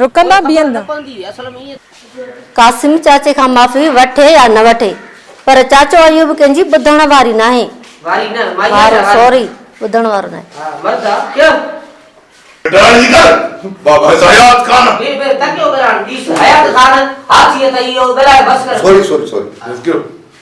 رڪندا بيهندا. قاسم چاچي کان معافي وٺي يا نه وٺي پر چاچو ايوب ڪنهنجي ٻڌڻ واري ناهي. وارو سوري ٻڌڻ وارو ناهي. ڊاڙي ڪر بابا حيات خان. سوري سوري سوري.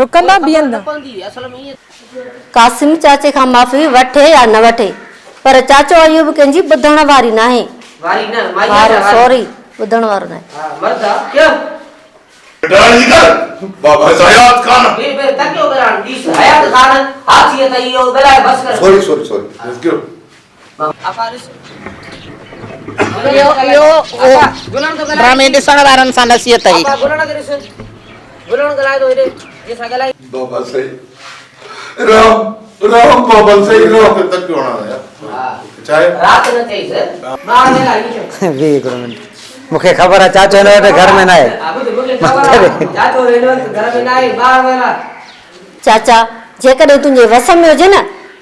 رڪندا بيهندا. قاسم چاچي کان معافي وٺي يا نه وٺي پر چاچو ايوب ڪنهنجي ٻڌڻ واري ناهي. وارو سوري ٻڌڻ وارو ناهي. ڊاڙي ڪر بابا حيات خان. سوري سوري سوري. اهو ڊرامي ڏسڻ وارن سان نصيحت هئي. بابا سائين رام رام بابا سائين رام. چاچا جيڪڏهن تنهنجي وس ۾ هجي نه